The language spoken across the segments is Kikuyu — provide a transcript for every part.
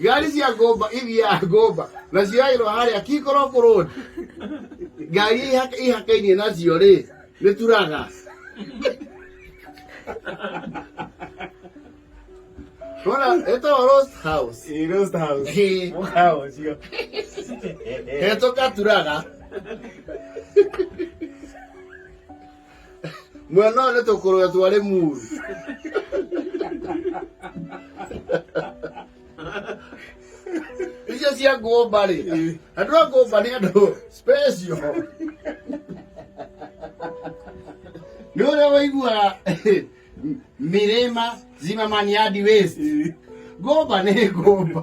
ngari cia ngũmba ithiaga ngũmba na cioyairwo harĩa kingorwo kũrũni ngari iria ihaka- ihakainie nacio rĩ nĩ turaga rona ĩtagwo roast house Ĩ, roast house. Ĩ. Mũkawa ũcio. hetũka turaga mwena ũyũ nĩ tũkũrũwe twarĩ muru icio cia ngũmba rĩ andũ a ngũmba nĩ andũ special nä å rä a waiguaga mirima zimamaniadi west ngomba nä ngomba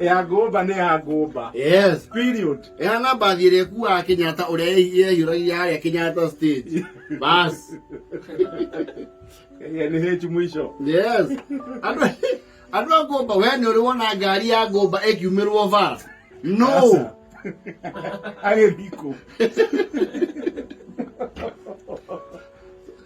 ya ngũmba nĩ ya ngũmba yes period ehana mbathi ĩrĩa ĩkuaga kenyatta ũrĩa yehiũragia harĩa kenyatta stage bas Ĩrĩa nĩ hĩnju mũico yes andũ andũ a ngũmba we nĩ ũrĩ wona ngari ya ngũmba ĩkiumĩrwo bara no Aca. agĩthikũ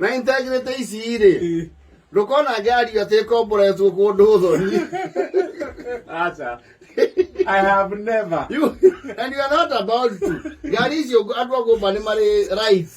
na integrity ici rĩ ndũkona ngĩario atĩ komboretwo kũndũ thoni aca I have never. You, and you are not about to. Ngari icio andũ a gũmba nĩ marĩ rights.